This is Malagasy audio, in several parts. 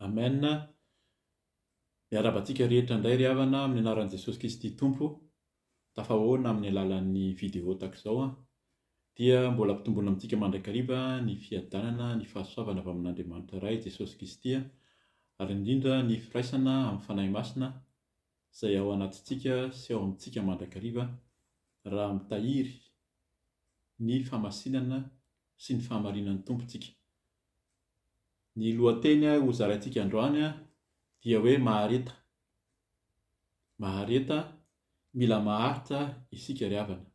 Amen, miarahaba antsika rehetra indray ry havana amin'ny anaran'i Jesosy Kristy Tompo, tafahoana amin'ny alalan'ny vidéo tahaka izao an, dia mbola ampitomboina amintsika mandrakariva ny fiadanana, ny fahasoavana avy amin'Andriamanitra Ray, Jesosy Kristy an, ary indrindra ny firaisana amin'ny Fanahy Masina izay ao anatintsika sy ao amintsika mandrakariva raha mitahiry ny famasinana sy ny fahamarinan'ny Tompo isika. Ny lohateny ho zaraintsika androany dia hoe mahareta. Mahareta, mila maharitra isika ry havana.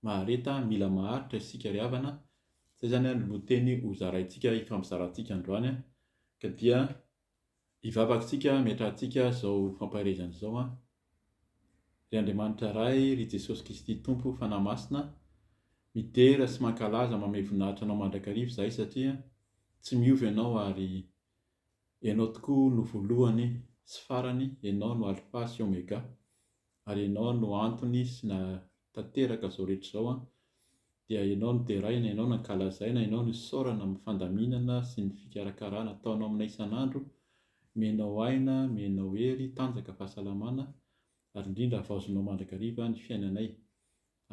Mahareta, mila maharitra isika ry havana. Izay izany no lohateny ho zaraintsika, hifampizarantsika androany ka dia. Hivavaka isika hametrahantsika izao fampaherezana izao an! Ry Andriamanitra Ray, ry Jesosy Kristy Tompo, Fanahy Masina, midera sy mankalaza mamehy voninahitra Anao mandrakariva izahay satria tsy miova Ianao ary Ianao tokoa no voalohany sy farany, Ianao no Alfa sy Omega. ary ianao no antony sy nahatanteraka izao rehetra izao an, dia ianao no deraina, ianao no ankalazaina, ianao no isaorana amin'ny fandaminana sy ny fikarakarana ataonao aminay isan'andro, mienao aina, mienao hery, tanjaka, fahasalamana, ary indrindra havaozinao mandrakariva ny fiainanay,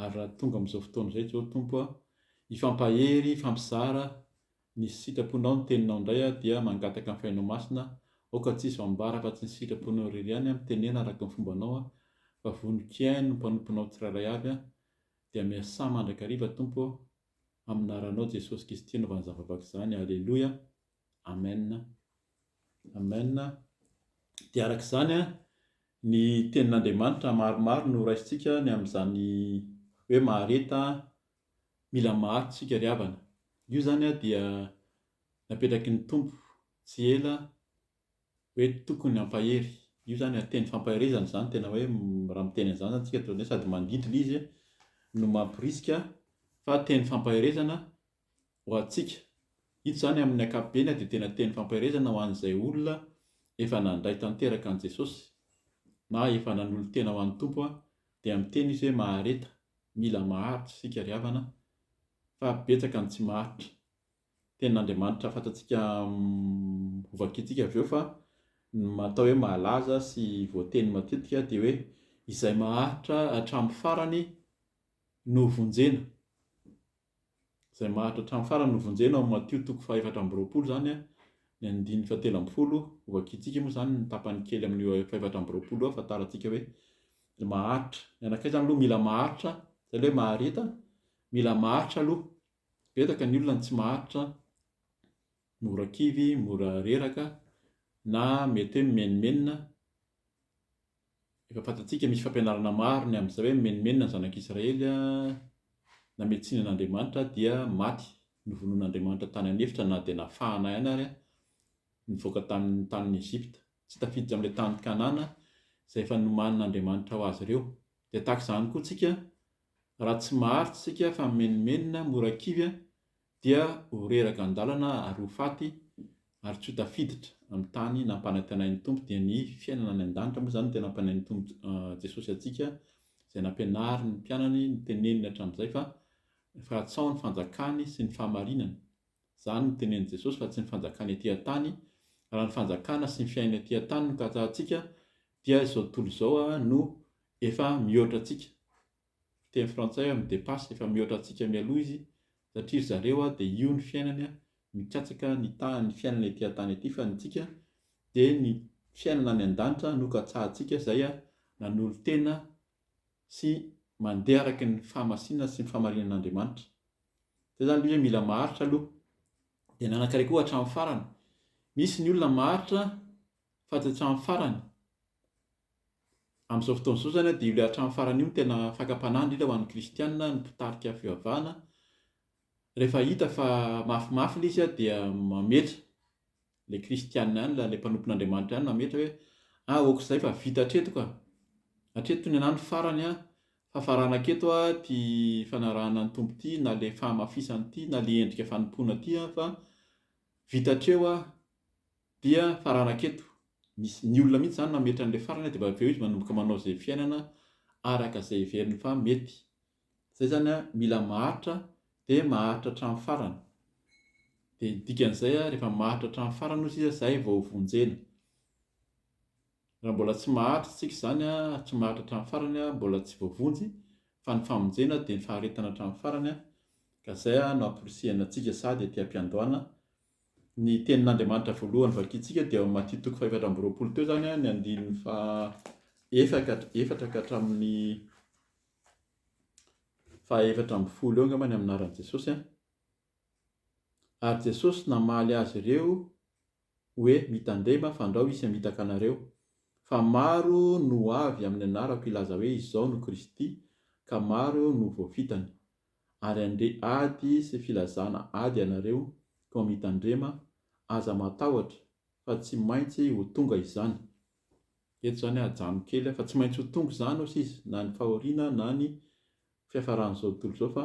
ary raha tonga amin'izao fotoana izay Jeho Tompo an, hifampahery, hifampizara, Ny sitraponao ny teninao indray aho dia mangataka ny fainao masina aoka tsisy ho ambara afa tsy ny sitraponao irery ihany aho mitenena araka ny fombanao aho fa vonon-kiahy no mpanomponao tsirairay avy aho dia miasà mandrakariva Tompo ô amin'ny naranao Jesosy Kisty anaovany izany vavaka izany Aleloia Amen Amen dia araka izany an ny tenin'Andriamanitra maromaro no raisintsika ny amin'izany hoe mahareta Mila maharitra isika ry havana. Io izany dia napetraky ny Tompo tsy ela hoe tokony hampahery. Io izany teny fampaherezana izany tena hoe raha miteny an'izany izany isika dia sady mandidy ilay izy no mamporisika fa teny fampaherezana ho antsika. Ito izany amin'ny ankapobeny dia tena teny fampaherezana ho an'izay olona efa nandray tanteraka an'i Jesosy na efa nanolo-tena ho an'ny Tompo Dia miteny izy hoe mahareta, mila maharitra isika ry havana fa betsaka ny tsy maharitra. Tenin'Andriamanitra fantatsika hovakintsika avy eo fa ny atao hoe malaza sy voateny matetika dia hoe izay maharitra hatramin'ny farany no vonjena. izay maharitra hatramin'ny farany novonjena ao Matio toko fahaefatra amby roapolo izany a, ny andininy fahatelo ambin'ny folo, hovakiantsika moa izany ny tapany kely amin'io fahefatra amby roapolo io ahafantarantsika hoe ny maharitra, ny anankiray izany aloha mila maharitra, izay ilay hoe mahareta, mila maharitra aloha, betsaka ny olona no tsy maharitra, mora kivy, mora reraka na mety hoe mimenomenona, Efa fantatsika misy fampianarana maro ny amin'izay hoe mimenomenona ny zanak'Israely nametsiany an'Andriamanitra dia maty novonoin'Andriamanitra tany an'efitra na dia nafahana ihany ary nivoaka tamin'ny tanin'i Egypta tsy tafiditra amin'ilay tany Kanana izay efa nomanin'Andriamanitra ho azy ireo dia tahaka izany koa tsika raha tsy maharitra isika fa mimenomenona mora kivy dia ho reraka an-dalana ary ho faty ary tsy ho tafiditra amin'ny tany nampanantenain'ny Tompo, dia ny fiainana any an-danitra moa izany dia nampanantenain'ny Tompo Jesosy antsika izay nampianariny ny mpianany ny teneniny hatramin'izay fa fahatsao ny fanjakany sy ny fahamarinana, izany no tenenin'i Jesosy fa tsy ny fanjakany aty an-tany, raha ny fanjakana sy ny fiainana aty an-tany no katsahantsika dia izao tontolo izao no efa mihoatra antsika, fiteny frantsay hoe me dépasse efa mihoatra antsika mialoha izy satria ry zareo dia io ny fiainany mikatsaka ny taha ny fiainana ety an-tany ety fa ny antsika dia ny fiainana any an-danitra no katsahantsika izay nanolo-tena sy mandeha araka ny fahamasinana sy ny fahamarinan-Andriamanitra izay izany ilay hoe mila maharitra aloha dia nanankareko hatramin'ny farany misy ny olona maharitra Fady hatramin'ny farany. Amin'izao fotoana izao izany dia io ilay hatramin'ny farany io no tena fakam-panahy indrindra ho an'ny kristiana, ny mpitarika fivavahana, rehefa hita fa mafimafy ilay izy dia mametra, ilay kristiana ihany, ilay mpanompon'Andriamanitra ihany mametra hoe ah ok izay fa vita hatreto ka, hatreto ny anah ny farany an, fa farana haketo an ity fanarahana ny Tompo ity na ilay fahamafisana ity na ilay endrika fanompoana ity an fa vita hatreo an. Dia faranako eto, misy ny olona mihitsy izany mametra an'ilay farany dia avy eo izy manomboka manao izay fiainana araka izay heveriny fa mety. Izay izany mila maharitra dia maharitra hatramin'ny farany. Dia ny dikan'izay rehefa maharitra hatramin'ny farany hozy izy izay vao vonjena. Raha mbola tsy maharitra isika izany, tsy maharitra hatramin'ny farany, mbola tsy voavonjy fa ny famonjena dia ny faharetana hatramin'ny farany ka izay no amporisihina antsika sady aty am-piandohana Ny Tenin'Andriamanitra voalohany vakintsika dia ao amin'ny Matia toko fahefatra amby roapolo teo izany, ny andininy faha efatra ka hatramin'ny fahaefatra ambin'ny folo eo angamba ny amin'ny anaran'i Jesosy an. Ary Jesosy namaly azy ireo hoe mitandrema fandrao hisy hamitaka anareo, fa maro no ho avy amin'ny anarako hilaza hoe izao no Kristy, ka maro no ho voafitany. ary andeha ady sy filazana ady ianareo koa mitandrema aza matahotra fa tsy maintsy ho tonga izany eto zany ajanony kely fa tsy maintsy ho tonga izany osa izy na ny fahoriana na ny fiafaran'izao tontolo izao fa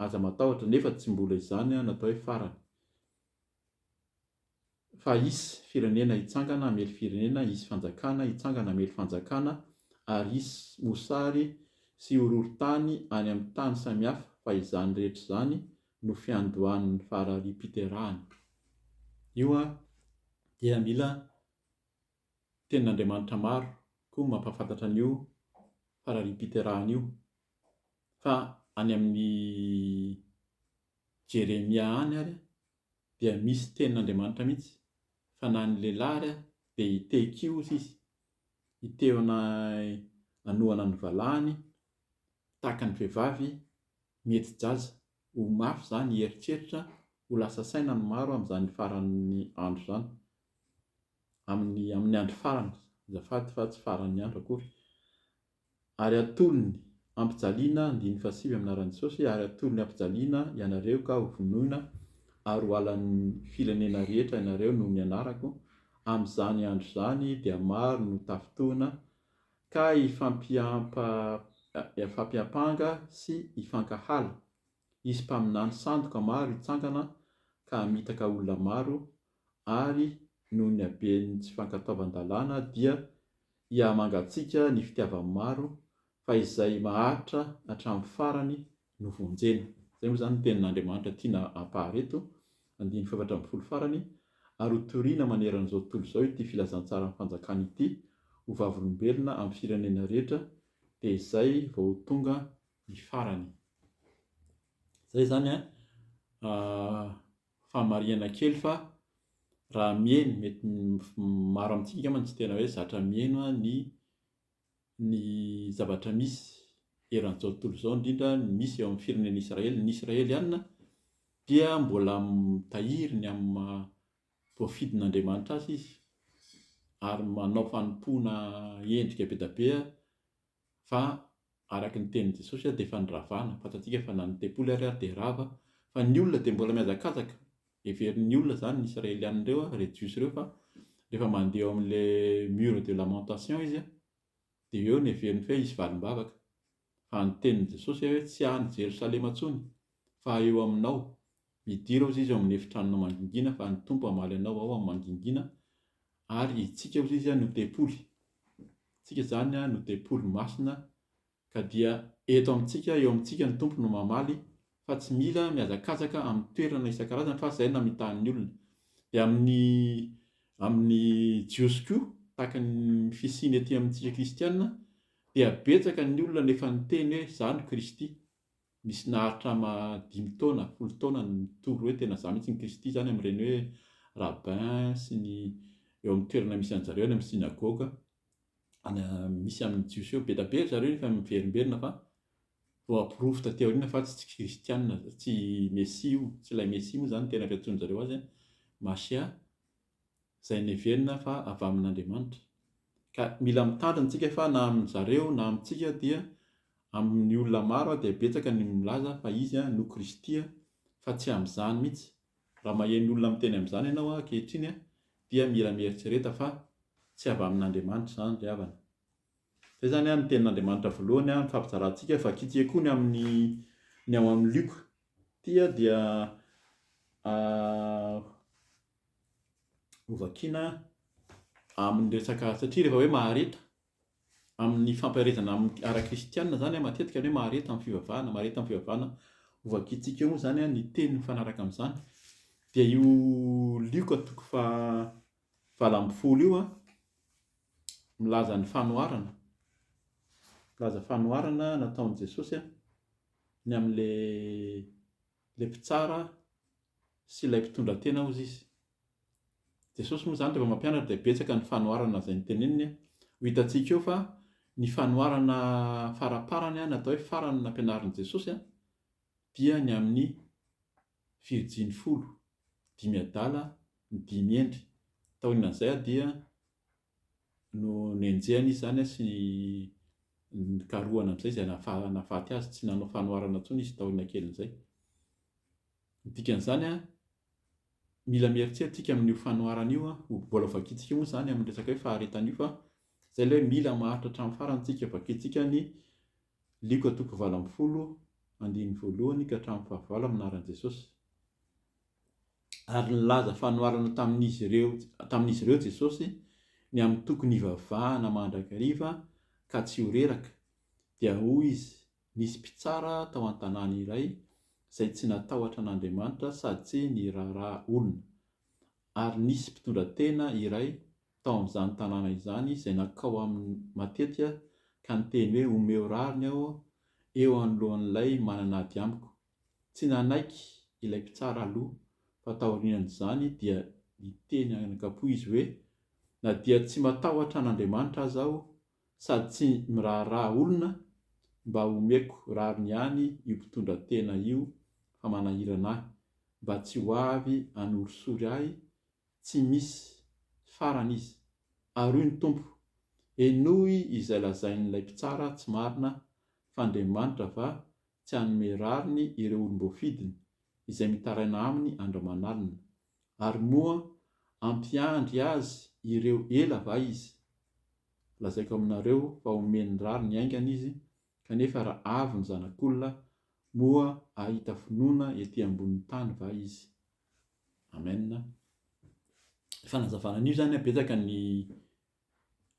aza matahotra nefa tsy mbola izany natao hoe farany Fa hisy firenena hitsangana hamely firenena, hisy fanjakana hitsangana hamely fanjakana, ary hisy mosary sy horohorontany any amin'ny tany samihafa, fa izany rehetra izany no fiandohan'ny faharariam-piterahana. Io dia mila tenin'Andriamanitra maro koa no mampahafantatra an'io faharariam-piterahana io, fa any amin'ny Jeremia any ary dia misy tenin'Andriamanitra mihitsy fa na ny lehilahy ary dia hitey kioza izy, hitehona hanohana ny valahany tahaka ny vehivavy mihetsi-jaza, ho mafy izany hieritreritra, ho lasa saina ny maro amin'izany faran'ny andro izany, amin'ny amin'ny andro farany azafady fa tsy faran'ny andro akory, Ary atolony ampijaliana andininy fahasivy amin'ny anaran'i Jesosy, ary atolony ampijaliana ianareo ka ho vonoina ary ho halan'ny firenena rehetra ianareo noho ny anarako, amin'izany andro izany dia maro no tafintohina, ka hifampiampanga sy hifankahala, hisy mpaminany sandoka maro hitsangana ka hamitaka olona maro, ary noho ny haben'ny tsy fankatoavan-dalàna dia hihamangatsiaka ny fitiavan'ny maro fa izay maharitra hatramin'ny farany no vonjena. Izay moa izany ny tenin'Andriamanitra tiana ampahary eto, andininy fahefatra ambin'ny folo farany, Ary ho toriana maneran'izao tontolo izao ity filazantsaran'ny fanjakana ity ho vavolombelona amin'ny firenena rehetra dia izay vao ho tonga ny farany. Izay izany an! famarihana kely fa raha miheno mety maro amintsika angamba no tsy tena hoe zatra miheno ny ny zavatra misy eran'izao tontolo izao indrindra ny misy eo amin'ny firenen'i Israely. Ny Israeliana dia mbola mitahiry ny amin'ny maha voafidin'Andriamanitra azy izy ary manao fanompoana endrika be dia be Fa araka ny tenin'i Jesosy ary dia efa niravana, fantatsika fa na ny tempoly ary ary dia rava, fa ny olona dia mbola mihazakazaka, heverin'ny olona izany ny Israeliana ireo a, ireo Jiosy ireo fa rehefa mandeha eo amin'ilay mur de lamentation izy a, dia eo no heveriny fa hoe hisy valim-bavaka, fa ny tenin'i Jesosy hoe tsy any Jerosalema intsony Fa eo aminao. Hidira hozy izy ao amin'ny efitranona mangingina fa ny Tompo hamaly anao ao amin'ny mangingina ary itsika hozy izy no tempoly. Itsika izany no tempoly masina ka dia eto amintsika eo amintsika ny Tompo no mamaly fa tsy mila mihazakazaka amin'ny toerana isan-karazany fa izay namitahan'ny olona. Dia amin'ny amin'ny Jiosy koa tahaka ny fisiany ety amintsika kristiana dia betsaka ny olona no efa niteny hoe izaho no Kristy. Misy naharitra ma dimy taona, folo taona ny mitory hoe tena za mihitsy ny Kristy zany amin'ireny hoe rabbin sy ny eo amin'ny toerana misy anjareo any amin'ny synagoga any misy amin'ny Jiosy eo. Be da be ry zareo efa miverimberina fa vao aporofo taty aoriana fa tsy Kristiana, tsy Mesia io, tsy ilay Mesia moa zany ny tena fiantsoan'zareo azy an, Mashia. izay neverina fa avy amin'Andriamanitra. Ka mila mitandrina tsika fa na amin zareo na amintsika dia amin'ny olona maro dia betsaka ny milaza fa izy no Kristy fa tsy amin'izany mihitsy. Raha maheno olona miteny amin'izany ianao ankehitriny dia mila mieritrereta fa tsy avy amin'Andriamanitra izany ry havana. Izay izany ny tenin'Andriamanitra voalohany no fampizarantsika, vakitsika koa ny amin'ny ny ao amin'ny Lioka ity dia hovakina amin'ny resaka satria rehefa hoe mahareta amin'ny fampiharezana amin'ny ara-kristianina zany matetika hoe mahareta amin'ny fivavahana mahareta amin'ny fivavahana hovakintsika moa zany ny teny mifanaraka amin'izany dia io lioka toko fa valo ambin'ny folo io a milaza ny fanoharana milaza fanoharana nataon'i Jesosy a ny amin'ilay Ilay mpitsara sy ilay mpitondratena hozy izy. Jesosy moa izany rehefa mampianatra dia betsaka ny fanoharana izay noteneniny. Ho hitantsika eo fa ny fanoharana faraparany na atao hoe farany nampianarin'i Jesosy dia ny amin'ny virjiny folo, dimy adala, ny dimy hendry. Taorianan'izay dia no nenjehany izy izany sy nikarohana amin'izay izay nahafaty azy, tsy nanao fanoharana intsony izy taoriana kelin'izay. Ny dikan'izany, mila mieritreritra isika amin'io fanoharana io, mbola ho vakintsika moa izany amin'ny resaka hoe faharetana io fa izay ilay hoe mila maharitra hatramin'ny farany isika, vakintsika ny Lioka toko valo ambin'ny folo andininy voalohany ka hatramin'ny fahavalo amin'ny anaran'i Jesosy. Ary nilaza fanoharana tamin'izy ireo tamin'izy ireo Jesosy ny amin'ny tokony hivavahana mandrakariva ka tsy ho reraka, dia hoy izy, Nisy mpitsara tao an-tanàna iray izay tsy natahotra an'Andriamanitra sady tsy niraharaha olona. Ary nisy mpitondratena iray, tao amin'izany tanàna izany izay nankao aminy matetika ka niteny hoe omeo rariny aho eo anoloan'ilay manana ady amiko. Tsy nanaiky ilay mpitsara aloha fa taorian'izany dia niteny an'ankapoa izy hoe na dia tsy matahotra an'Andriamanitra aza aho sady tsy miraharaha olona, mba omeko rariny ihany io mpitondra tena io fa manahirana ahy, mba tsy ho avy hanorisory ahy tsy misy farany izy, ary hoy ny Tompo, Henoy izay lazain'ilay mpitsara tsy marina fa Andriamanitra va tsy hanome rariny ireo olom-boafidiny izay mitaraina aminy andramanalina, ary moa hampiandry azy ireo ela va izy? Lazaiko aminareo fa homeny rariny haingana izy, kanefa raha avy ny Zanak'olona, moa hahita finoana ety ambonin'ny tany va izy? Amen. Fanazavana an'io zany a, betsaka ny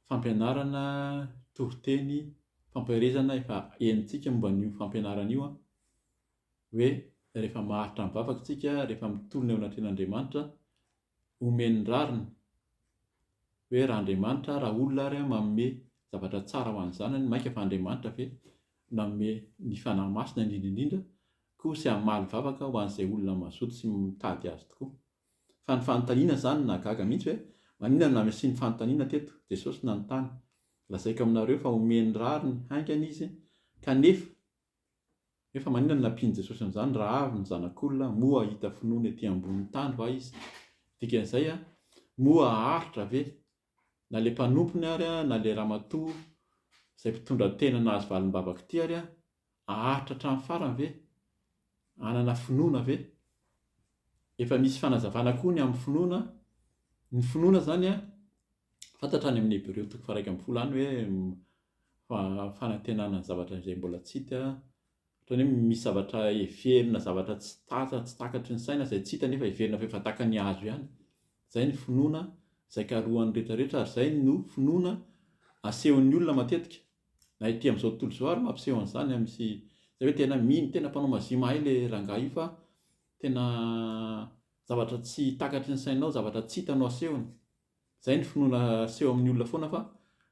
fampianarana, toriteny, fampaherezana efa henontsika momba an'io fampianarana io an, hoe rehefa maharitra ny vavaka isika, rehefa mitolona eo anatrehan'Andriamanitra, omeny ny rariny, hoe raha Andriamanitra, raha olona ary manome zavatra tsara ho an'ny zanany, mainka fa Andriamanitra ve nanome ny Fanahy Masina indrindra indrindra, Koa tsy hamaly vavaka ho an'izay olona mazoto sy mitady azy tokoa. Fa ny fanontaniana izany nahagaga mihitsy hoe, maninona no namisian'ny fanontaniana teto? Jesosy nanontany, Lazaiko aminareo fa homeny rariny haingana izy, kanefa, nefa maninona no nampian'i Jesosy an'izany, raha avy ny Zanak'olona, moa hahita finoana ety ambonin'ny tany va izy? Dikan'izay, moa haharitra ve na le mpanompony ary na le ramatoa izay mpitondra tena nahazo valim-bavaka ity ary aharitra hatramin'ny farany ve? Hanana finoana ve? Efa misy fanazavana koa ny amin'ny finoana, ny finoana izany an, fantatra any amin'ny Hebreo toko faharaika ambin'ny folo any hoe fanantenana ny zavatra izay mbola tsy hita, Ohatran'ny hoe misy zavatra heverina, zavatra tsy tatra, tsy takatry ny saina, izay tsy hita nefa heverina fa efa takan'ny hazo ihany. Izay ny finoana izay karohan'ny rehetra rehetra ary izay no finoana asehon'ny olona matetika. Na ety amin'izao tontolo izao ary mampiseho an'izany a, misy izay hoe tena mino, tena mpanao mazia mahay ilay rangahy io fa tena zavatra tsy takatry ny sainao, zavatra tsy hita no asehony. Izay ny finoana aseho amin'ny olona foana fa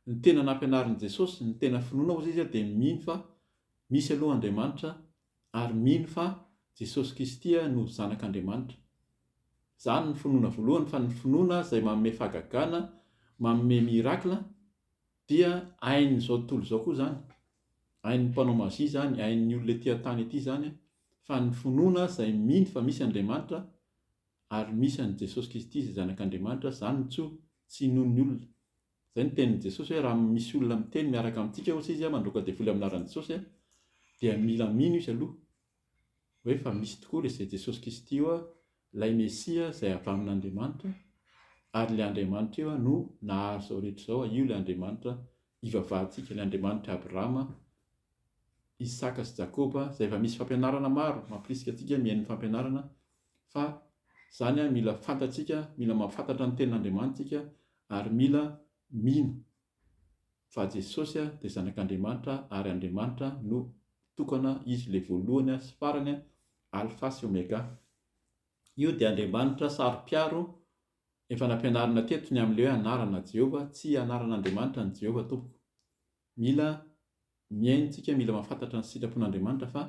ny tena nampianarin'i Jesosy, ny tena finoana hozy izy dia mino fa misy aloha Andriamanitra ary mino fa Jesosy Kisty no zanak'Andriamanitra. Izany ny finoana voalohany fa ny finoana izay manome fahagagana, manome miracle dia ain'izao tontolo izao koa izany, ain'ny mpanao magie izany, ain'ny olona ety an-tany ety izany fa ny finoana izay mino fa misy Andriamanitra Ary misy an'i Jesosy Kristy izay Zanak'Andriamanitra, izany no tsoa, tsy inoan'ny olona. Izay no tenin'i Jesosy hoe raha misy olona miteny miaraka amintsika ohatra izy mandroaka devoly amin'ny anaran'i Jesosy dia mila mino izy aloha hoe fa misy tokoa ilay izay Jesosy Kristy io ilay Mesia izay avy amin'Andriamanitra ary ilay Andriamanitra io no nahazo izao rehetra izao, io ilay Andriamanitra ivavahantsika, ilay Andriamanitr'i Abrahama, Isaka sy Jakoba, izay efa misy fampianarana maro mampirisika antsika mihaino ny fampianarana fa zany mila fantatsika mila mahafantatra ny tenin'Andriamanitra tsika ary mila mino fa Jesosy dia zanak'Andriamanitra ary Andriamanitra no tokana izy le voalohany sy farany alpha sy omega io dia Andriamanitra saro-piaro efa nampianarina teto ny amin'le hoe anarana Jehovah tsy anaran'Andriamanitra ny Jehovah tompoko Mila mihaino tsika mila mafantatra ny sitrapon Andriamanitra fa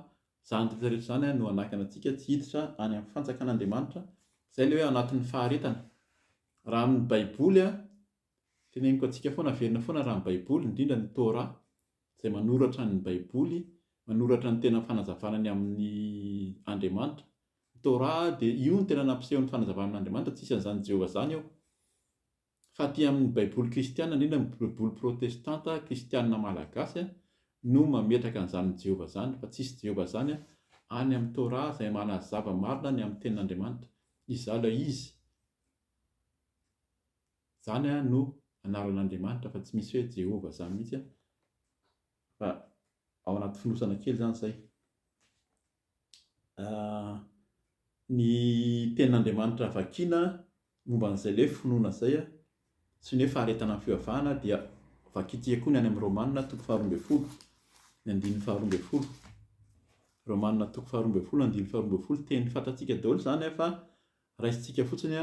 zany rehetra rehetra zany no hanakana antsika tsy hiditra any am fanjakan Andriamanitra zay le hoe anatin ny faharetana raha amin ny baiboly a teneniko antsika foana averina foana raha ny baiboly indrindra ny torah zay manoratra ny baiboly manoratra ny tena fanazavana ny amin ny Andriamanitra ny torah dia io no tena nampiseho ny fanazavana amin Andriamanitra tsisy anzany Jehovah zany eo. Fa aty amin' ny Baiboly kristiana, indrindra ny Baiboly prôtestanta kristiana malagasy, no mametraka an' izany Jehovah izany, fa tsisy Jehovah izany any amin' ny Torah izay manazava marina ny amin' ny tenin' Andriamanitra. Izaho ilay izy. Izany no anaran' Andriamanitra fa tsy misy hoe Jehovah izany mihitsy, fa ao anaty fonosana kely izany izay. ny tenin'Andriamanitra vakiana momba an'izay ilay hoe finoana izay, sy ny hoe faharetana ny fivavahana dia vakintsika koa ny any amin'ny Romanina toko faharoa ambin'ny folo, ny andininy faharoa ambin'ny folo. Romanina toko faharoa ambin'ny folo, andininy faharoa ambin'ny folo. Teny fantatsika daholo izany fa raisintsika fotsiny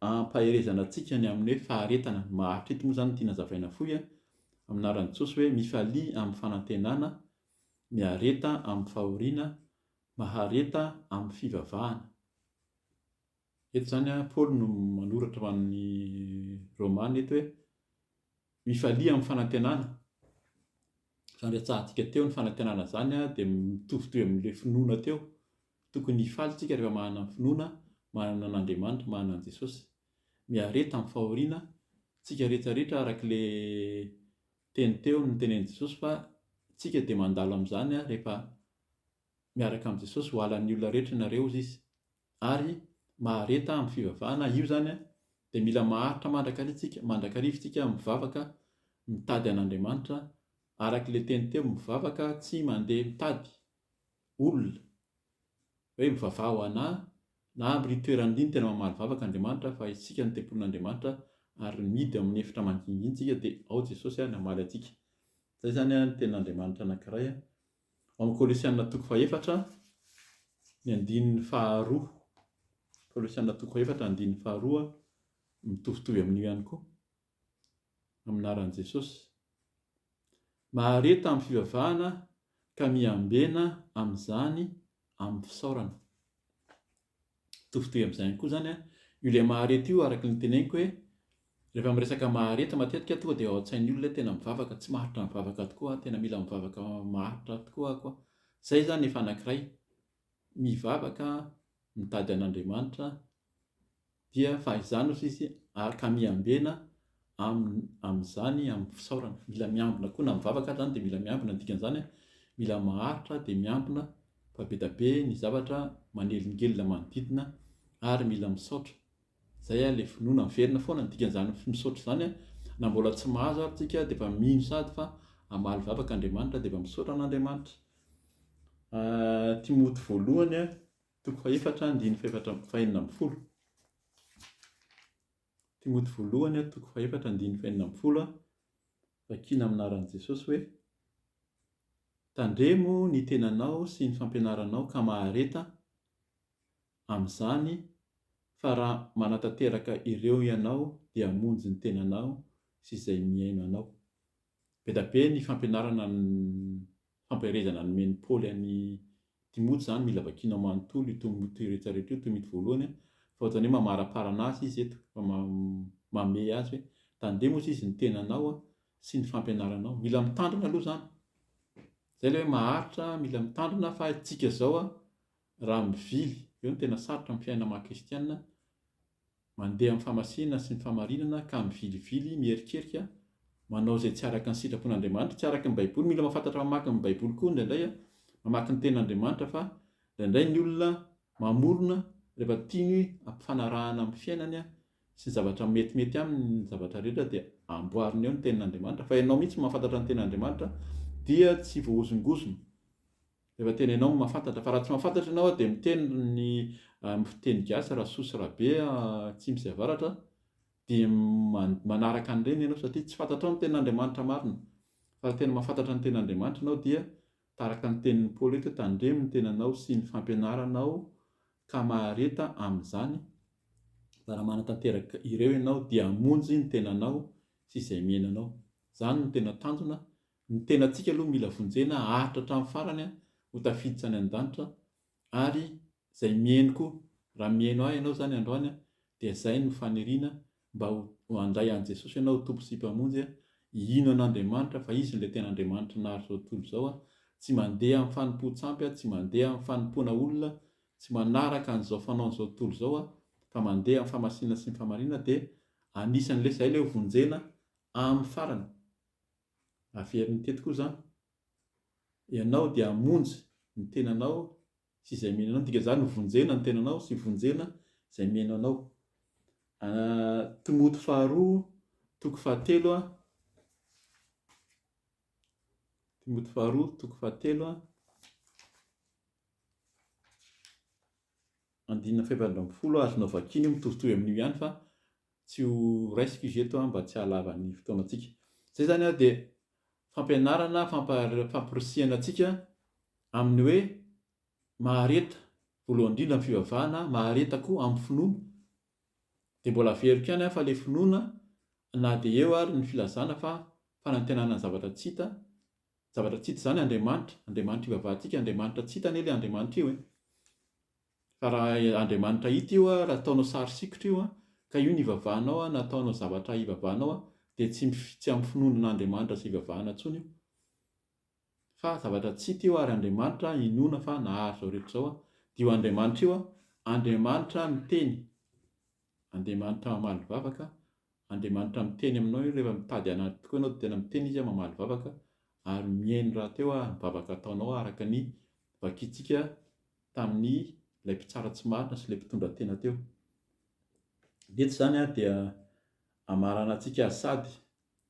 hampaherezana antsika ny amin'ny hoe faharetana. Maharitra eto moa izany no tiana hazavaina fohy amin'ny anaran'i Jesosy hoe mifalia amin'ny fanantenana miareta amin'ny fahoriana, mahareta amin'ny fivavahana. Eto izany an, Paoly no manoratra ho an'ny Romana eto hoe, mifalia amin'ny fanantenana. Izany rehatsahantsika teo, ny fanantenana izany dia mitovitovy amin'ilay finoana teo. Tokony hifaly isika rehefa manana finoana, manana an'Andriamanitra, manana an'i Jesosy. Miareta amin'ny fahoriana isika rehetra rehetra araka ilay Teny teo no nitenenin'i Jesosy fa tsika dia mandalo amin'izany rehefa miaraka amin'i Jesosy, ho halan'ny olona rehetra ianareo hozy izy. Ary mahareta amin'ny fivavahana io izany dia mila maharitra mandrakariva tsika, mandrakariva tsika mivavaka mitady an'Andriamanitra, arak'ilay teny teo mivavaka tsy mandeha mitady, olona hoe mivavaha ho anà na amin'ireny toerana ireny tena mamaly vavaka Andriamanitra fa isika no tempolin'Andriamanitra ary mihidy ao amin'ny efitra mangingina isika dia ao Jesosy no hamaly antsika. Izay izany ny tenin'Andriamanitra anankiray. Ao amin'ny Kolosiana toko fahefatra ny andininy faharoa, Kolosiana toko fahefatra andininy faharoa mitovitovy amin'io ihany koa. amin'ny anaran'i Jesosy. Mahareta amin'ny fivavahana ka miambena amin'izany amin'ny fisaorana. Tofitohy amin'izay ihany koa izany io ilay mahareta io araka ny teneniko hoe rehefa miresaka mahareta matetika tonga dia ao an-tsain'ny olona tena mivavaka, tsy maharitra mivavaka tokoa, tena mila mivavaka maharitra tokoa aho koa. Izay izany efa anankiray mivavaka mitady an'Andriamanitra dia fahizany osa izy ary ka miambena amin'ny amin'izany amin'ny fisaorana mila miambina koa na mivavaka aza zany dia mila miambina ny dikan'izany mila maharitra dia miambina fa be dia be ny zavatra manelingelina manodidina ary mila misaotra Zay a le finoana miverina foana ny dikan'izany misaotra izany a, na mbola tsy mahazo ary tsika dia efa mino sady fa hamaly vavaka Andriamanitra dia efa misaotra an'Andriamanitra. Timoty voalohany a, toko fahefatra andininy fahefatra fahenina ambin'ny folo. Timoty voalohany a, toko fahefatra andininy fahenina ambin'ny folo a, vakiana amin'ny anaran'i Jesosy hoe, Tandremo ny tenanao sy ny fampianaranao ka mahareta amin'izany fa raha manatanteraka ireo ianao dia hamonjy ny tenanao sy izay mihaino anao. Be da be ny fampianarana ny fampaherezana nomen'i Paoly an'i Timoty izany, mila vakianao manontolo io Tomoty io rehetra rehetra io, Tomity voalohany a, fa ohatran'ny hoe mamaraparana azy izy eto, fa mamehy azy hoe tandremo hozy izy ny tenanao a, sy ny fampianaranao. Mila mitandrina aloha izany, izay ilay hoe maharitra, mila mitandrina fa isika izao a, Raha mivily, eo no tena sarotra ny fiainana maha kristiana, mandeha amin'ny fahamasiana sy ny fahamarinana ka mivilivily, miherikerika, manao izay tsy araka ny sitrapon'Andriamanitra, tsy araka ny baiboly, mila mahafantatra mamaky ny baiboly koa indraindray an, mamaky ny tenan'Andriamanitra fa indraindray ny olona mamorona rehefa tiany ampifanarahana amin'ny fiainany an, sy ny zavatra metimety aminy ny zavatra rehetra dia amboariny eo ny tenin'Andriamanitra, fa ianao mihitsy mahafantatra ny tenan'Andriamanitra dia tsy voahozongozona. Efa tena enao no mahafantatra fa raha tsy mahafantatra enao dia miteny ny fiteny gasy rasoa sy rabe atsimo sy avaratra dia manaraka an'ireny enao satria tsy fantatrao ny tenin'Andriamanitra marina fa raha tena mahafantatra ny tenin'Andriamanitra enao dia taraka ny tenin'i Paoly eto tandremo ny tenanao sy ny fampianaranao ka mahareta amin'izany fa raha manatanteraka ireo enao dia hamonjy ny tenanao sy izay miaina anao izany no tena tanjona Ny tenantsika aloha mila vonjena haharitra hatramin'ny farany aho ho tafiditra any an-danitra ary izay mihaino koa, raha mihaino ahy ianao izany androany dia izay no faniriana mba ho handray an'i Jesosy ianao ho Tompo sy Mpamonjy, hino an'Andriamanitra fa Izy no ilay tena Andriamanitry ny naharizao tontolo izao, tsy mandeha amin'ny fanompoan-tsampy aho, tsy mandeha amin'ny fanompoana olona, tsy manaraka an'izao fanaon'izao tontolo izao aho fa mandeha amin'ny famasinana sy ny fahamarinana dia anisan'ilay izay ilay ho vonjena amin'ny farany. averiny teto koa zany ianao dia hamonjy ny tenanao sy izay mino anao, ny dikan'izany hovonjena ny tenanao sy hovonjena izay mino anao. Timoty faharoa toko fahatelo a Timoty faharoa toko fahatelo a andinina fahefatra ambin'ny folo azonao vakiana io mitovitovy amin'io ihany fa tsy ho raisiko izy eto an, mba tsy hahalava ny fotoanantsika. Izay izany ary dia fampianarana, fampahari-, famporisihana antsika amin'ny hoe mahareta, voalohany indrindra ny fivavahana, mahareta koa amin'ny finoana. Dia mbola averiko ihany an, fa ilay finoana, na dia eo ary ny filazana fa fanantenana ny zavatra tsy hita, ny zavatra tsy hita izany Andriamanitra, Andriamanitra ivavahantsika, Andriamanitra tsy hita anie ilay Andriamanitra io e. Fa raha Andriamanitra hita io raha ataonao sary sikotra io ka io no ivavahanao na ataonao zavatra hivavahanao dia tsy tsy amin'ny finoana an'Andriamanitra sy ivavahana intsony io fa zavatra tsy hita io ary Andriamanitra inoana fa nahary izao rehetra izao dia io Andriamanitra io Andriamanitra miteny Andriamanitra mamaly vavaka Andriamanitra miteny aminao io rehefa mitady an'Andriamanitra tokoa ianao dia tena miteny izy mamaly vavaka ary mihaino rahateo ny vavaka ataonao araka ny vakintsika tamin' ilay mpitsara tsy marina sy ilay mpitondra tena teo. Ny eto izany dia hamarana antsika azy sady.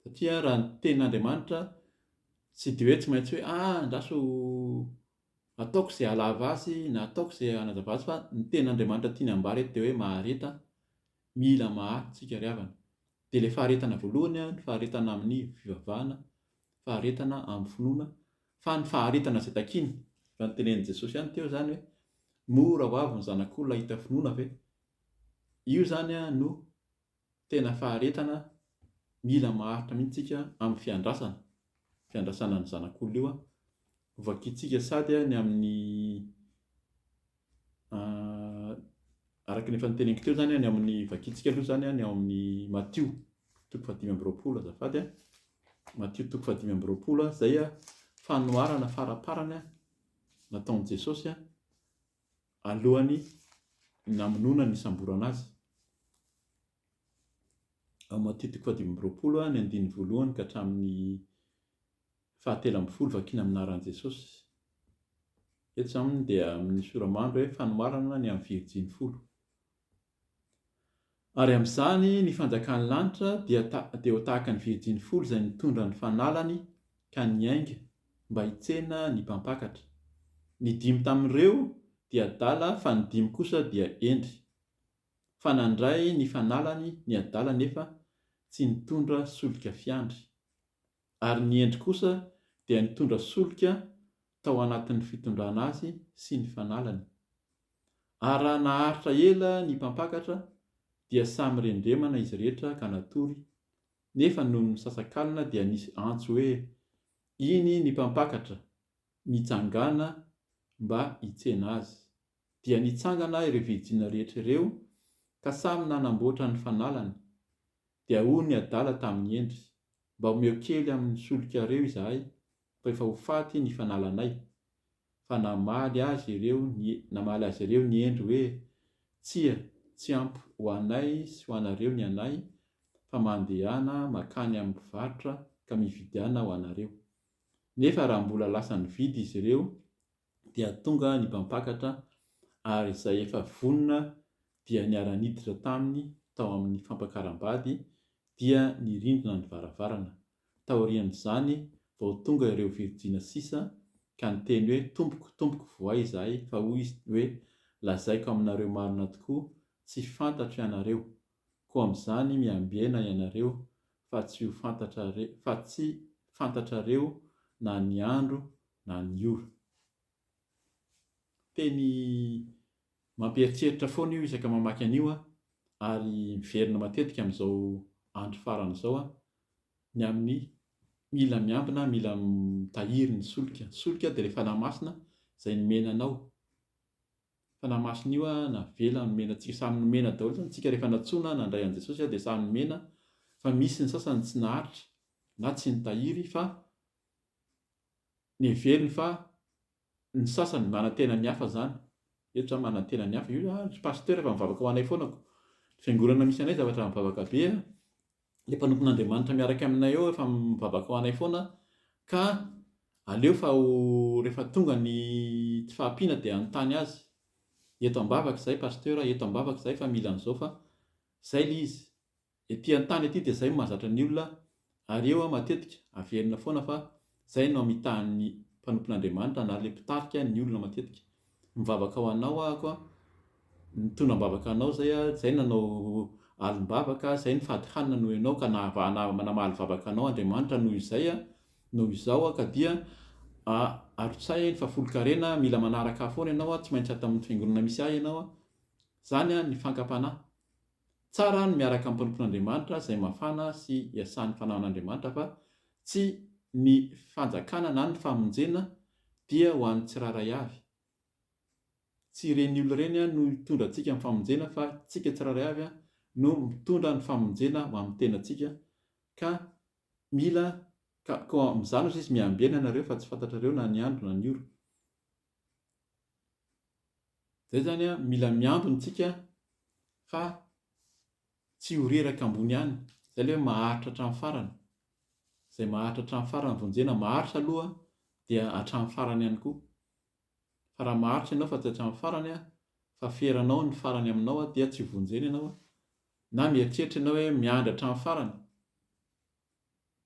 Satria raha ny tenin' Andriamanitra tsy dia hoe tsy maintsy hoe ah andraso ataoko izay hahalava azy na ataoko izay hanazava azy fa ny tenin' Andriamanitra tiany hambara eto dia hoe mahareta, mila maharitra isika ry havana. Dia ilay faharetana voalohany ny faharetana amin'ny fivavahana, faharetana amin'ny finoana. Fa ny faharetana izay takiany, raha ny tenenin'i Jesosy ihany teo izany hoe, mora ho avy ny zanak'olona hahita finoana ve? Io izany no tena faharetana mila maharitra mihitsy isika amin'ny fiandrasana, fiandrasana ny zanak'olona io hovakintsika sady ny amin'ny Araka ny efa noteneniko teo zany, ny ao amin'ny vakintsika aloha zany, ny ao amin'ny Matio toko fahadimy amby roapolo azafady a, Matio toko fahadimy amby roapolo a, zay a fanoharana faraparany a nataon'i Jesosy a alohan'ny namonoana ny hisamborana azy. Ao Matio toko fahadimy amby roapolo a, ny andininy voalohany ka hatramin'ny Fahatelo ambin'ny folo, Vakina amin'ny anaran'i Jesosy. Eto izany moa dia amin'ny sora-mandry hoe fanoharana ny amin'ny virijiny folo. Ary amin'izany ny fanjakan'ny lanitra dia dia ho tahaka ny virijiny folo izay nitondra ny fanalany ka niainga mba hitsena ny mpampakatra. Ny dimy tamin'ireo dia adala fa ny dimy kosa dia hendry. Fa nandray ny fanalany ny adala nefa tsy nitondra solika fiandry. Ary ny Hendry kosa dia nitondra solika tao anatin'ny fitondrana azy sy ny fanalany. Ary raha naharitra ela ny mpampakatra dia samy rendremana izy rehetra ka natory, nefa nony misasakalina dia nisy antso hoe, Iny ny mpampakatra, mitsangàna mba hitsena azy. Dia nitsangana ireo virjina rehetra ireo ka samy nanamboatra ny fanalany. Dia hoy ny adala tamin'i Hendry, Mba omeo kely amin'ny solikareo izahay rehefa ho faty ny fanalanay. Fa namaly azy ireo ny namaly azy ireo ny Hendry hoe, Tsia, tsy ampy ho anay sy ho anareo ny anay, fa mandehana mankany amin'ny mpivarotra ka mividiana ho anareo. Nefa raha mbola lasa nividy izy ireo, dia tonga ny mpampakatra ary izay efa vonona dia niara-niditra taminy tao amin'ny fampakaram-bady dia nirindrina ny varavarana. Taorian'izany vao tonga ireo virjina sisa ka niteny hoe tompoko tompoko voay izahay fa hoy izy hoe lazaiko aminareo marina tokoa tsy fantatro ianareo Koa amin'izany miambena ianareo fa tsy ho fantatrare, fa tsy fantatrareo na ny andro na ny ora. Teny mampieritreritra foana io isaka mamaky an'io aho, ary miverina matetika amin'izao andro farany izao aho, ny amin'ny mila miambina, mila mitahiry ny solika. Ny solika dia ilay Fanahy Masina izay nomena anao. Fanahy Masina io a navela nomena antsika samy nomena daholo zany tsika rehefa natsoina nandray an'i Jesosy a dia samy nomena fa misy ny sasany tsy naharitra na tsy nitahiry fa neveriny fa ny sasany manantena ny hafa zany eto zany manantena ny hafa io a ry pasteur efa mivavaka ho anay foana ko ny fiangonana misy anay zavatra mivavaka be a Ilay mpanompon'Andriamanitra miaraka aminay eo efa mivavaka ho anay foana ka aleo fa ho rehefa tonga ny tsy fahampiana dia hanontany azy. Eto ambavaka izahay Pasteur a, eto ambavaka izahay fa mila an'izao fa izay ilay izy. Ety an-tany ety dia izay no mahazatra ny olona ary eo aho matetika averina foana fa Izay no amitahan'ny mpanompon'Andriamanitra na ilay mpitarika ny olona matetika. Mivavaka ho anao aho koa, nitondra am-bavaka anao izay aho, izay nanao alim-bavaka, izay nifady hanina noho ianao ka nahava, na, namaly vavaka anao Andriamanitra noho izay aho, noho izao aho ka dia a, arotsay ny fahafolonkarena, mila manaraka ahy foana ianao aho, tsy maintsy ato amin'ny Fiangonana misy ahy ianao aho. Izany a, ny fankam-panahy. Tsara ny miaraka amin'ny mpanompon'Andriamanitra izay mafana sy iasan'ny fanahin'Andriamanitra fa tsy ny fanjakana na ny famonjena dia ho an'ny tsirairay avy. Tsy ireny olona ireny no hitondra antsika amin'ny famonjena fa tsika tsirairay avy no mitondra ny famonjena ho amin'ny tenantsika ka mila ka koa amin'izany hozy izy miamby aina ianareo fa tsy fantatrareo na ny andro na ny ora. Zay zany a, mila miambina tsika fa tsy ho reraka ambony ihany, zay le hoe maharitra hatramin'ny farany, zay maharitra hatramin'ny farany vonjena, maharitra aloha dia hatramin'ny farany ihany koa, fa raha maharitra ianao fa tsy hatramin'ny farany a, fa feranao ny farany aminao a, dia tsy vonjena ianao, na mieritreritra ianao hoe miandry hatramin'ny farany,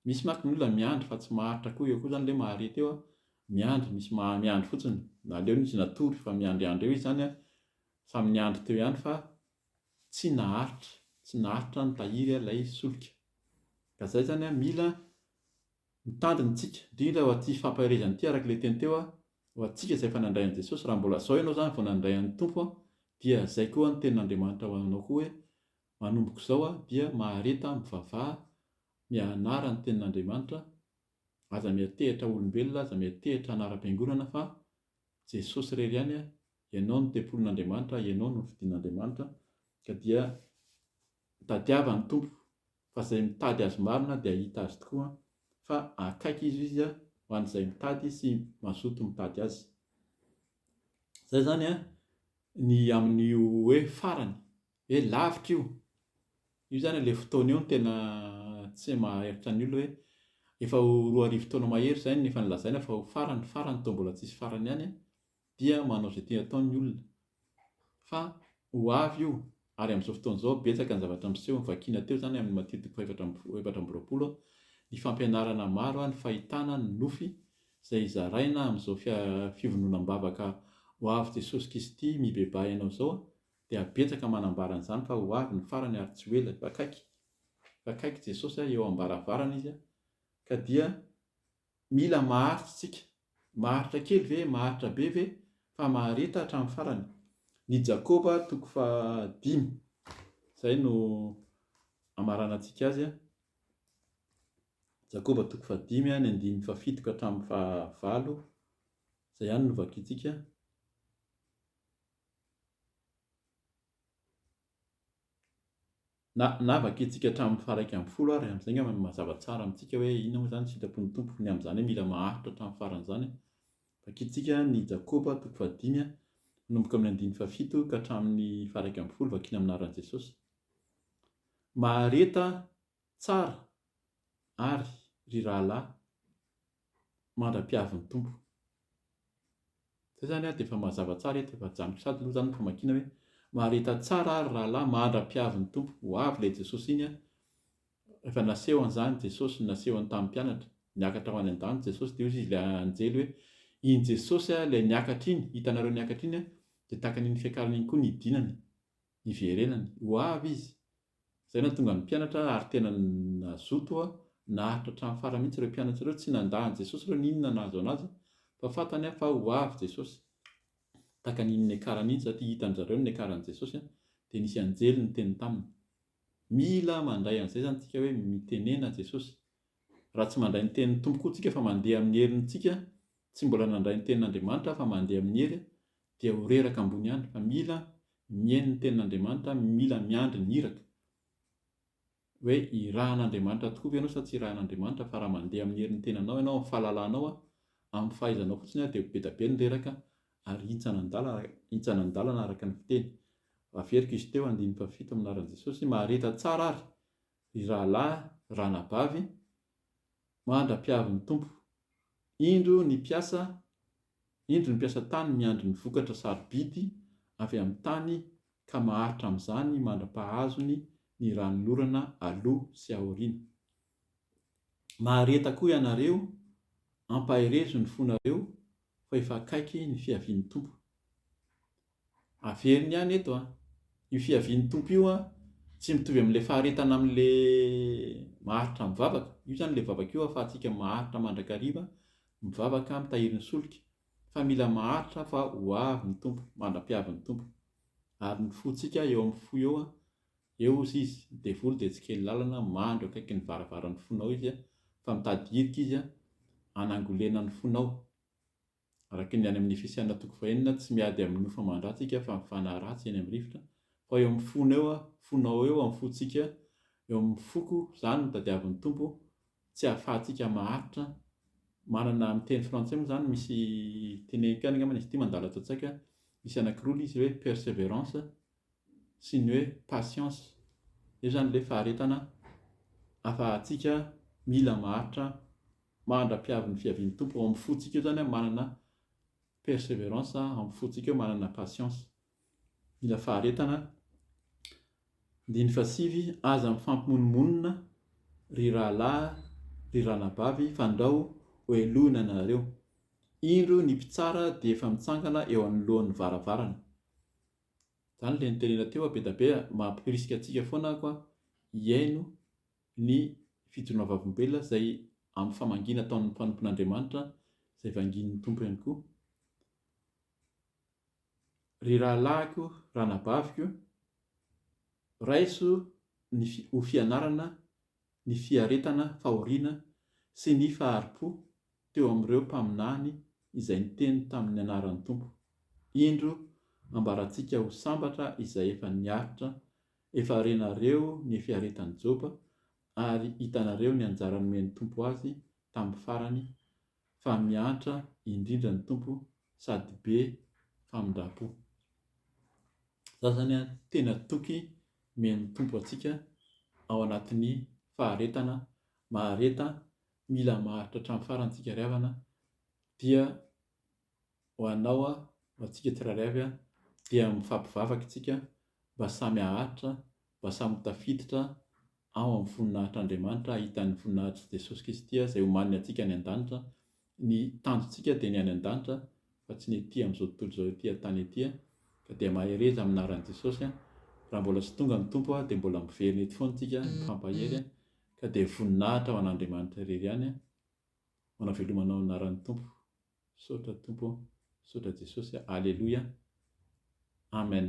Misy mantsy ny olona miandry fa tsy maharitra koa, eo koa izany ilay mahareta eo an, miandry, misy maha miandry fotsiny, na aleo izy natory fa miandriandry eo izy izany an, samy niandry teo ihany fa tsy naharitra, tsy naharitra ny tahiry ilay solika. Ka izay izany an, mila mitandrina isika, indrindra ho an'ity fampaherezana ity araka ilay teny teo an, ho antsika izay efa nandray an'i Jesosy, raha mbola izao ianao izany vao nandray an'ny Tompo an, dia izay koa ny tenin'Andriamanitra ho anao koa hoe, Manomboka izao aho dia mahareta mivavaha mianara ny tenin'Andriamanitra, aza miantehitra olombelona, aza miantehitra anaram-piangonana fa Jesosy irery ihany, Ianao no tempolin'Andriamanitra, Ianao no nofidin'Andriamanitra, ka dia tadiava ny Tompo, fa izay mitady Azy marina dia hahita Azy tokoa, fa akaiky Izy Izy ho an'izay mitady sy mazoto mitady Azy. Izay izany ny amin'io hoe farany, He lavitra io! Io zany ilay fotoana io no tena tsy maharitra ny olona hoe efa ho roa arivo taona mahery izay no efa nolazaina fa ho farany farany toa mbola tsisy farany ihany an, dia manao izay tiany atao ny olona. Fa ho avy io, ary amin'izao fotoana izao betsaka ny zavatra miseho, vakiana teo izany amin'ny matiotika fahefatra amby folo, efatra amby roapolo, ny fampianarana maro, ny fahitana, ny nofy izay zaraina amin'izao fia, fivononam-bavaka ho avy Jesosy Kristy mibebaha ianao izao, Dia betsaka manambara an'izany fa ho avy ny farany ary tsy ho ela, efa akaiky. Efa akaiky Jesosy a, eo am-baravarana Izy a. Ka dia mila maharitra isika. Maharitra kely ve? Maharitra be ve? Fa mahareta hatramin'ny farany. Ny Jakoba toko faha dimy. Izay no amaranantsika azy a. Jakoba toko faha dimy a, ny andininy faha fito ka hatramin'ny faha valo. Izay ihany no vakintsika. Na na vakintsika hatramin'ny faha iraika ambin'ny folo ary, amin'izay angamba no mazava tsara amintsika hoe inona moa izany ny sitrapon'ny Tompo, ny amin'izany hoe mila maharitra hatramin'ny farany izany. Vakintsika ny Jakoba, toko fahadimy, manomboka amin'ny andininy fahafito ka hatramin'ny faha iraika ambin'ny folo, vakina amin'ny anaran'i Jesosy. Mahareta Tsara ary ry rahalahy mandra-pihavin'ny Tompo. Zay izany dia efa mazava tsara eto, efa ajanoko sady aloha izany ny famakiana hoe, mahareta tsara ary rahalahy mandra-pihavin'ny Tompo, ho avy ilay Jesosy iny an, efa naseho an'izany Jesosy nasehony tamin'ny mpianatra, niakatra ho any an-danitra Jesosy dia hoy izy ilay anjely hoe, iny Jesosy ilay niakatra iny, hitanareo niakatra iny an, dia tahaka an'iny fiakarana iny koa ny hidinany, hiverenany, ho avy izy, Izay nahatonga ny mpianatra ary tena nazoto oa naharitra hatramin'ny farany mihitsy ireo mpianatra ireo, tsy nandà an'i Jesosy ireo n'inona nahazo an'azy fa fantany an fa ho avy Jesosy. Tahaka ny niakara mihitsy satria hitan-dry zareo ny niakaran'i Jesosy dia nisy anjely niteny taminy. Mila mandray an'izay izany isika hoe mitenena Jesosy. Raha tsy mandray ny tenin'ny Tompo koa isika fa mandeha amin'ny herintsika, tsy mbola nandray ny tenin'Andriamanitra fa mandeha amin'ny hery dia ho reraka ambony ihany fa mila mihaino ny tenin'Andriamanitra, mila miandry ny iraka. Hoe irahan'Andriamanitra tokoa ve ianao sa tsy irahan'Andriamanitra fa raha mandeha amin'ny herin'ny tenanao ianao, amin'ny fahalalanao, amin'ny fahaizanao fotsiny ary dia ho be dia be ny reraka ary hintsana an-dalana, hintsana an-dalana araka ny fiteny. Averiko izy teo andininy fahafito amin'ny anaran'i Jesosy, mahareta tsara ary Ry rahalahy, ranabavy, mandra-piavin'ny Tompo, indro ny mpiasa, indro ny mpiasa tany miandry ny vokatra sarobidy avy amin'ny tany ka maharitra amin'izany mandra-pahazony ny ranon'orana aloha sy aoriana. Mahareta koa ianareo, ampaherezo ny fonareo fa efa akaiky ny fiavian'ny Tompo. Averiny ihany eto an! Io fiavian'ny Tompo io an, tsy mitovy amin'ilay faharetana amin'ilay maharitra mivavaka. Io izany ilay vavaka io ahafahantsika maharitra mandrakariva mivavaka mitahiry ny solika. Fa mila maharitra fa ho avy ny Tompo, mandra-piavy ny Tompo. Ary ny fontsika eo amin'ny fo eo an, eo ozy izy, ny devoly dia tsy kely lalana, mandry eo akaikin'ny varavaran'ny fonao izy an, fa mitady hirika izy an, hanangolena ny fonao. Araka ny any amin'ny Efesiana toko fahenina, tsy miady amin'ny nofo aman-dratsy isika fa mifanahy ratsy eny amin'ny rivotra, fa eo amin'ny fona eo, fonao eo amin'ny fontsika, eo amin'ny foko, izany no tadiavin'ny Tompo, tsy hahafahantsika maharitra, manana amin'ny teny frantsay moa izany misy teneniko any angambany izy ity mandala tantsaika, misy anankiroa ilay izy hoe perseverance, sy ny hoe patience io zany ilay faharetana afahantsika mila maharitra mandra-piavin'ny fiavian'ny Tompo ao amin'ny fontsika eo zany manana perseverance ao amin'ny fontsika eo manana patience mila faharetana andininy fahasivy aza mifampimonomonona ry rahalahy ry ranabavy fandrao hohelohina nareo indro ny mpitsara dia efa mitsangana eo anoloan'ny varavarana Zany le nitenena teo a Bedabe a, mampirisika antsika foana ako a hihaino ny fijoroana vavolombelona izay amin'ny famangiana ataon'ny mpanompon'Andriamanitra izay vangian'ny Tompo ihany koa. Ry rahalahiko, ranabaviko, raiso ny ho fianarana ny fiaretana, fahoriana sy ny fahari-po teo amin'ireo mpaminany izay niteny tamin'ny anaran'ny Tompo. Indro, ambarantsika ho sambatra izay efa niaritra, efa renareo ny fiaretan'i Joba, ary hitanareo ny anjara nomen'ny Tompo azy tamin'ny farany, fa miantra indrindra ny Tompo sady be famindram-po. Izany izany an, tena toky men'ny Tompo antsika ao anatin'ny faharetana mahareta Mila maharitra hatramin'ny farany tsika ry havana dia ho anao aho ho antsika tsirairay avy an dia mifampivavaka itsika mba samy haharitra mba samy ho tafiditra ao amin'ny voninahitr' Andriamanitra hahitan'ny voninahitr' Jesosy Kristy izay homaniny antsika any an-danitra ny tanjontsika dia ny any an-danitra fa tsy ny ety amin'izao tontolo izao ety an-tany ety an ka dia mahereza amin'ny anaran'i Jesosy an raha mbola tsy tonga ny Tompo an dia mbola miverina eto foana itsika mifampahery an Ka dia voninahitra ho an'Andriamanitra irery ihany an! Ho navelomanao anaran'ny Tompo. Misaotra Tompo ô! Misaotra Jesosy a! Aleloia! Amen!